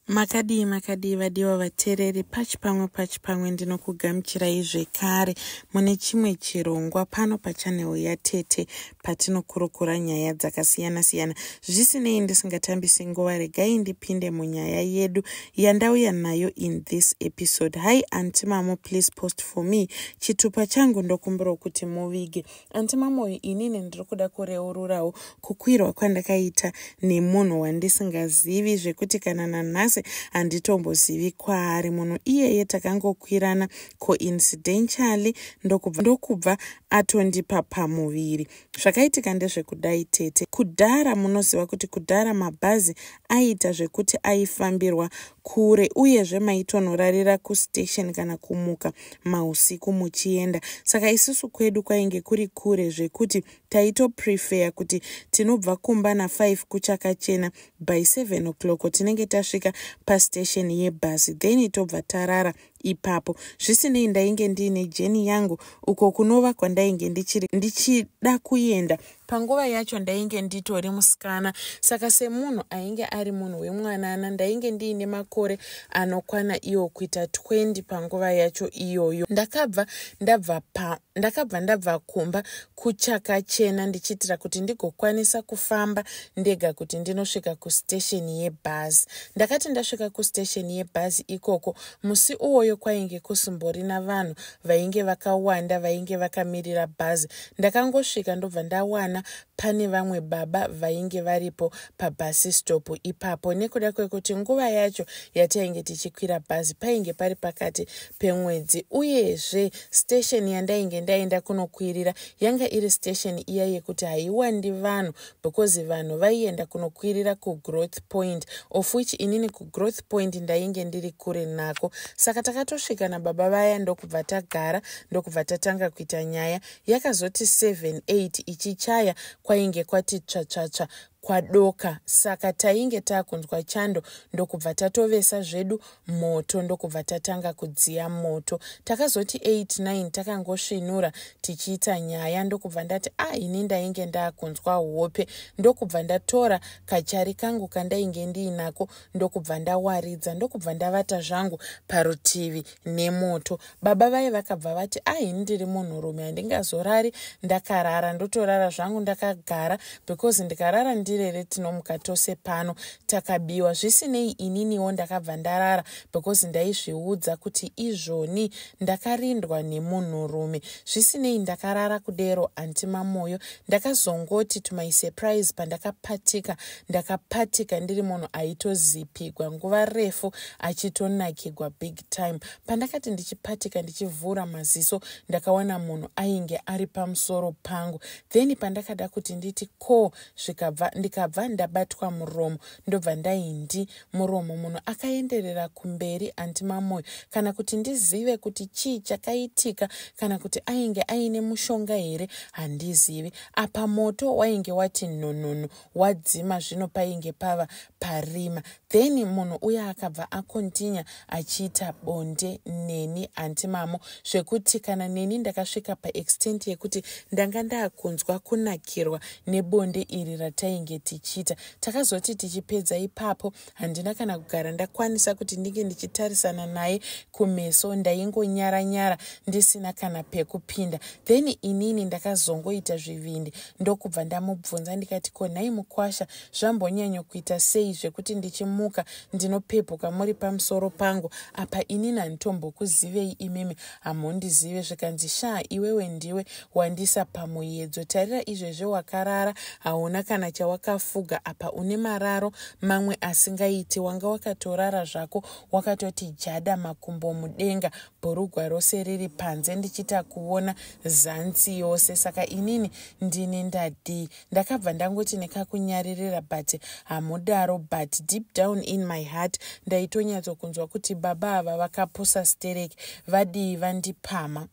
makadii makadii vadiwa vateereri pachi pamwe pachi pamwe ndinokugamuchirai zvekare mune chimwe chirongwa pano pachanel yatete patinokurukura nyaya dzakasiyana-siyana zvisinei ndisingatambisi nguva regai ndipinde munyaya yedu yandauya nayo in this episode hi anti mamo please post for me chitupa changu ndokumbirawo kuti muvige anti mamoyo inini ndiri kuda kureururawo kukwirwa kwandakaita nemunhu wandisingazivi zvekuti kana nanhasi handitombozivi kwaari munhu iyeye takangokwirana coincidentially ndokubva, ndokubva atondipa pamuviri zvakaitika ndezvekudai tete kudhara munoziva kuti kudhara mabhazi aiita zvekuti aifambirwa kure uyezve maitonorarira kustation kana kumuka mausiku muchienda saka isusu kwedu kwainge kuri kure zvekuti taitoprefeya kuti tinobva kumba na5 kuchakachena by 7 o'clock tinenge tasvika pastation yebhasi then tobva tarara ipapo zvisinei ndainge ndiine jeni yangu uko kunova kwandainge ndichiri ndichida kuenda panguva yacho ndainge nditori musikana saka semunhu ainge ari munhu wemwanana ndainge ndiine makore anokwana iwo kuita 20 panguva yacho iyoyo ndakabva ndabva pa ndakabva ndabva kumba kuchakachena ndichiitira kuti ndigokwanisa kufamba ndega kuti ndinosvika kustesheni yebhazi ndakati ndasvika kustesheni yebhazi ikoko musi uwoyo kwainge kusimborina vanhu vainge vakawanda vainge vakamirira bhazi ndakangosvika ndobva ndawana pane vamwe baba vainge varipo pabhasi stop ipapo nekuda kwekuti nguva yacho yatainge tichikwira bhazi painge pari pakati pemwedzi uyezve station yandainge ndaenda kunokwirira yanga iri station iya yekuti haiwandi vanhu because vanhu vaienda kunokwirira kugrowth point of which inini kugrowth point ndainge ndiri kure nako saka takatosvika nababa vaya ndokubva tagara ndokubva tatanga kuita nyaya yakazoti 78 ichichaya kwainge kwati tsvatsvatsva kwadoka saka tainge takunzwa chando ndokubva tatovesa zvedu moto ndokubva tatanga kudziya moto takazoti 89 takangosvinura tichiita nyaya ndokubva ndati a ah, ini ndainge ndakunzwa hope ndokubva ndatora kachari kangu kandainge ndiinako ndokubva ndawaridza ndokubva ndavata zvangu parutivi nemoto baba vaye vakabva vati ahini ndiri munhurume handingazorari ndakarara ndotorara zvangu ndakagara because ndikarara ndirere tinomuka tose pano takabiwa zvisinei ininiwo ndakabva ndarara because ndaizviudza kuti izvoni ndakarindwa nemunhurume zvisinei ndakarara kudero anti mamoyo ndakazongoti to my surprise pandakapatika ndakapatika ndiri munhu aitozipigwa nguva refu achitonakigwa big time pandakati ndichipatika ndichivhura maziso ndakawana munhu ainge ari pamusoro pangu then pandakada kuti nditi ko zvikabva ndikabva ndabatwa muromo ndobva ndaindi muromo munhu akaenderera kumberi anti mamoyo kana kuti ndizive kuti chii chakaitika kana kuti ainge aine mushonga here handizivi apa moto wainge wati nonono wadzima zvino painge pava parima then munhu uye akabva akontinya achiita bonde neni anti mamo zvekuti kana neni ndakasvika paextent yekuti ndanga ndakunzwa kunakirwa nebonde iri ratainge tichiita takazoti tichipedza ipapo handina kana kugara ndakwanisa kuti ndinge ndichitarisana naye kumeso ndaingonyara nyara ndisina kana pekupinda then inini ndakazongoita zvivindi ndokubva ndamubvunza ndikati ko nhai mukwasha zvambonyanyo kuita sei zvekuti ndichimuka ndinopepuka muri pamusoro pangu apa inini handitombokuzivei imimi hamhondizive zvikanzi shaa iwewe ndiwe wandisa pamuyedzo tarira izvezve wakarara hauna kana chawakafuga apa une mararo mamwe asingaiti wanga wakatorara zvako wakatoti jada makumbo mudenga bhurugwa rose riri panze ndichita kuona zansi yose saka inini ndini ndadii ndakabva ndangoti nekakunyaririra but hamudaro but deep down in my heart ndaitonyatsokunzwa kuti baba ava vakapusa stereki vadii vandipama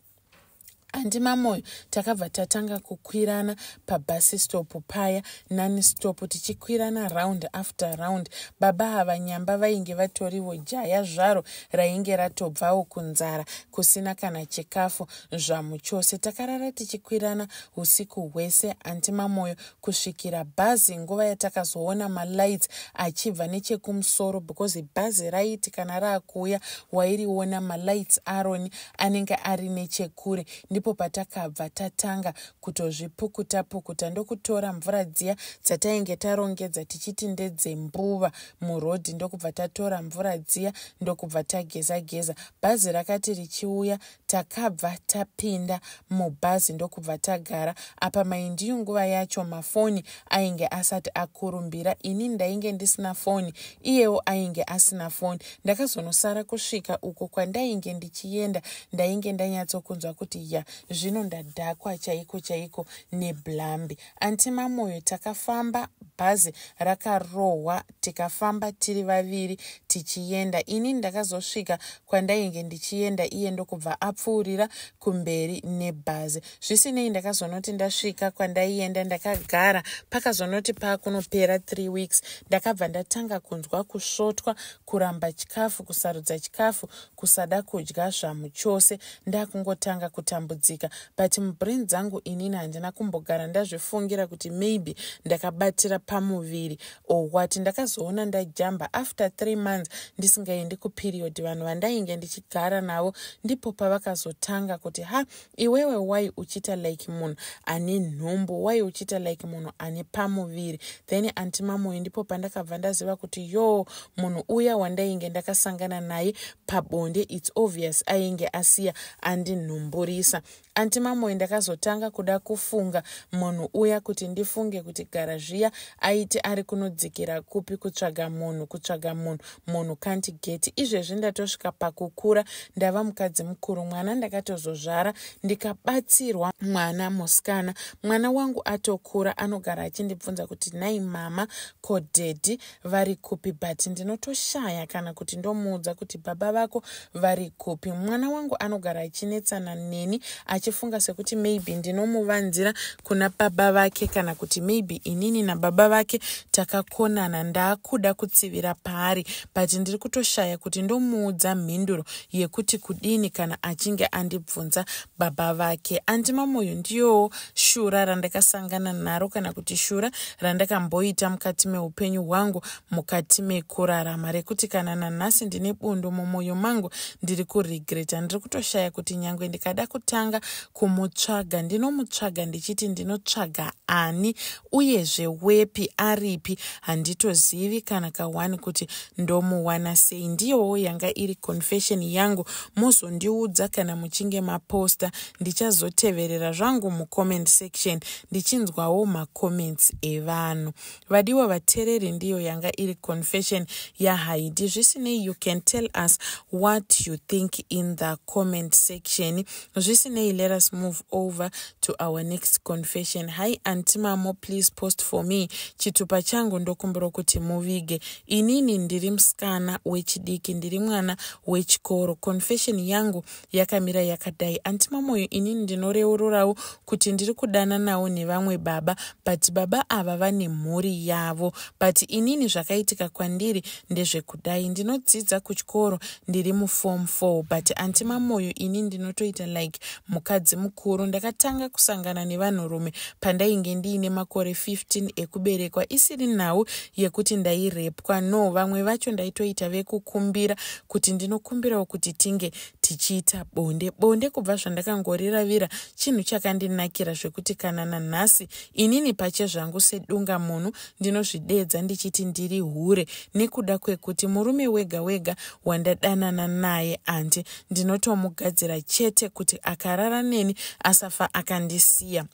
andi mamoyo takabva tatanga kukwirana pabhasi stop paya nani stop tichikwirana round after round baba hava nyamba vainge vatorivo jaya zvaro rainge ratobvawo kunzara kusina kana chikafu zvamu chose takarara tichikwirana usiku hwese anti mamoyo kusvikira bhazi nguva yatakazoona malights achibva nechekumusoro because bhazi raiti kana raakuuya wairiona malights aroni anenge ari nechekure ndipo patakabva tatanga kutozvipukuta pukuta ndokutora mvura dziya dzatainge tarongedza tichiti ndedzembuva murodhi ndokubva tatora mvura dziya ndokubva tageza geza bhazi rakati richiuya takabva tapinda mubhazi ndokubva tagara apa maindiyu nguva yacho mafoni ainge asati akurumbira ini ndainge ndisina foni iyewo ainge asina foni ndakazonosara kusvika uko kwandainge ndichienda ndainge ndanyatsokunzwa kuti ya zvino ndadhakwa chaiko chaiko neblambi anti mamoyo takafamba bhazi rakarohwa tikafamba tiri vaviri tichienda ini ndakazosvika kwandainge ndichienda iye ndokubva apfuurira kumberi nebhazi zvisinei ndakazonoti ndasvika kwandaienda ndakagara pakazonoti paakunopera three weeks ndakabva ndatanga kunzwa kusvotwa kuramba chikafu kusarudza chikafu kusada kudya zvamu chose ndakungotanga kutambudzika but mubrain dzangu inini handina kumbogara ndazvifungira kuti maybe ndakabatira pamuviri or what ndakazoona ndajamba after three months ndisingaendi kuperiod vanhu vandainge ndichigara navo ndipo pavakazotanga kuti ha iwewe why uchiita like munhu ane nhumbu why uchiita like munhu ane pamuviri then anti mamoyo ndipo pandakabva ndaziva kuti yoo munhu uya wandainge ndakasangana naye pabonde its obvious ainge asiya andinhumburisa anti mamoyo ndakazotanga kuda kufunga munhu uya kuti ndifunge kuti gara zviya aiti ari kunodzikira kupi kutsvaga munhu kutsvaga munhu munhu can't get izvezvi ndatosvika pakukura ndava mukadzi mukuru mwana ndakatozozvara ndikabatsirwa mwana musikana mwana wangu atokura anogara achindibvunza kuti nai mama ko dhedhi vari kupi but ndinotoshaya kana kuti ndomuudza kuti baba vako vari kupi mwana wangu anogara achinetsana neni achifunga sekuti maybe ndinomuvanzira kuna baba vake kana kuti maybe inini nababa vake takakonana ndaakuda kutsivira paari but ndiri kutoshaya kuti ndomuudza mhinduro yekuti kudini kana achinge andibvunza baba vake andimamoyo ndiyowo shura randakasangana naro kana kuti shura randakamboita mukati meupenyu hwangu mukati mekurarama rekuti kana nanhasi ndine bundu mumwoyo mangu ndiri kuregreta ndiri kutoshaya kuti nyange ndikada kutanga kumutsvaga ndinomutsvaga ndichiti ndinotsvaga ani uyezve wepi aripi handitozivi kana kawani kuti ndomuwana sei ndiyowo yanga iri confession yangu mozondiudza kana muchinge maposta ndichazoteverera zvangu mucomment section ndichinzwawo macomments evanhu vadiwa vatereri ndiyo yanga iri confession yahaidi zvisinei you can tell us what you think in the comment section zvisinei let us move over to our next confession hi antimamo please post for me chitupa changu ndokumbira kuti muvige inini ndiri musikana wechidiki ndiri mwana wechikoro confession yangu yakamira yakadai anti mamoyo inini ndinoreururawo kuti ndiri kudananawo nevamwe baba but baba ava vane mhuri yavo but inini zvakaitika kwandiri ndezvekudai ndinodzidza kuchikoro ndiri muform four but anti mamoyo ini ndinotoita like mukadzi mukuru ndakatanga kusangana nevanhurume pandainge ndiine makore 15 ekuberekwa isiri nhau yekuti ndairepwa no vamwe vacho ndaitoita vekukumbira kuti ndinokumbirawo kuti tinge tichiita bonde bonde kubva zvandakangoriravira chinhu chakandinakira zvekuti kana nanhasi inini pache zvangu sedunga munhu ndinozvideedza ndichiti ndiri hure nekuda kwekuti murume wega wega wandadanana naye andi ndinotomugadzira chete kuti akarara neni asafa akandisiya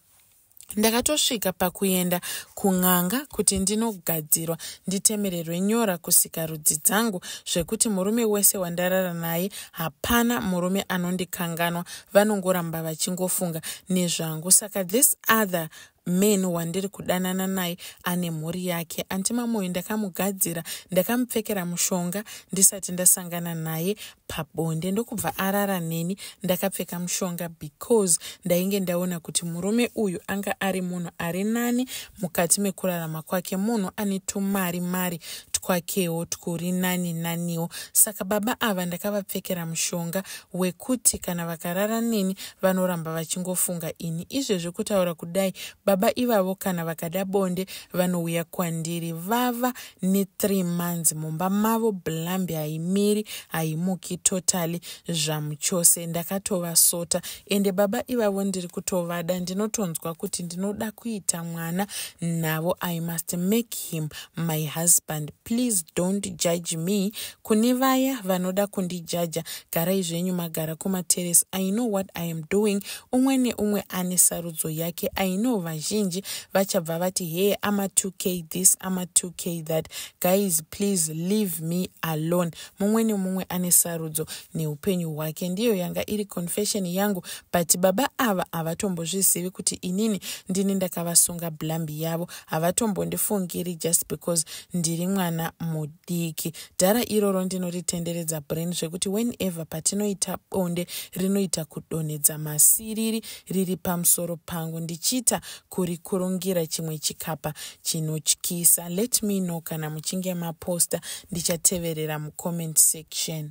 ndakatosvika pakuenda kun'anga kuti ndinogadzirwa nditemererwe nyora kusika rudzi dzangu zvekuti murume wese wandarara naye hapana murume anondikanganwa vanongoramba vachingofunga nezvangu saka this other man wandiri kudanana naye ane mhuri yake antimamoyo ndakamugadzira ndakamupfekera mushonga ndisati ndasangana naye pabonde ndokubva arara neni ndakapfeka mushonga because ndainge ndaona kuti murume uyu anga ari munhu ari nani mukati mekurarama kwake munhu ane tumari mari twakewo twuri nani naniwo saka baba ava ndakavapfekera mushonga wekuti kana vakarara neni vanoramba vachingofunga ini izvezvi kutaura kudai baba ivavo kana vakada bonde vanouya kwandiri vava nethree months mumba mavo blambi haimiri haimuki totally zvamuchose ndakatovasota ende baba ivavo ndiri kutovada ndinotonzwa kuti ndinoda kuita mwana navo i must make him my husband please don't judge me Kune vaya vanoda kundijaja, garai zvenyu magara kumaterrace. I know what I am doing. Umwe neumwe ane sarudzo yake. I know vazhinji vachabva vati hey ama 2k this ama 2k that. Guys please leave me alone. Mumwe nemumwe ane sarudzo neupenyu hwake. Ndiyo yanga iri confession yangu but baba ava havatombozvizivi kuti inini ndini ndakavasunga blambi yavo. Havatombondifungiri just because ndiri mwana mudiki. diki dhara iroro ndinoritendedza brain zvekuti whenever patinoita bonde rinoita kudonhedza masiriri riri pamusoro pangu ndichiita kurikurungira chimwe chikapa chinotyisa let me know kana muchinge maposta ndichateverera mucomment section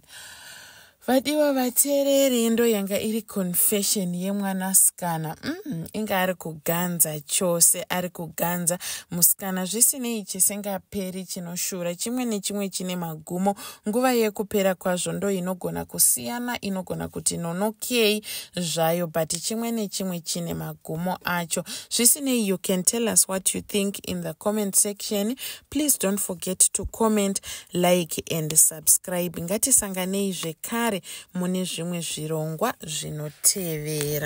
vadiwa vateereri ndo yanga iri confession yemwanasikana mm, inga ari kuganza chose ari kuganza musikana zvisinei chisingaperi chinoshura chimwe nechimwe chine magumo nguva yekupera kwazvo ndo inogona kusiyana inogona kuti nonokei zvayo but chimwe nechimwe chine magumo acho zvisinei you can tell us what you think in the comment section please don't forget to comment like and subscribe ngatisanganei zvekare mune zvimwe zvirongwa zvinotevera